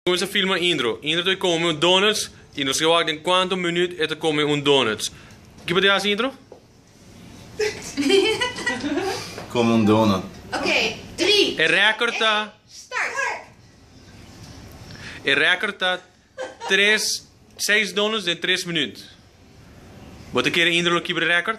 Nos a filma intro. Intro ta come un donuts y nos ke wak den cuanto minuut e ta come un donuts. Kipa ta haci intro? Come un donut. Ok, tri. E record ta. Start. E record ta tres seis donuts den tres minuut. Bo ta kere intro lo keep the record?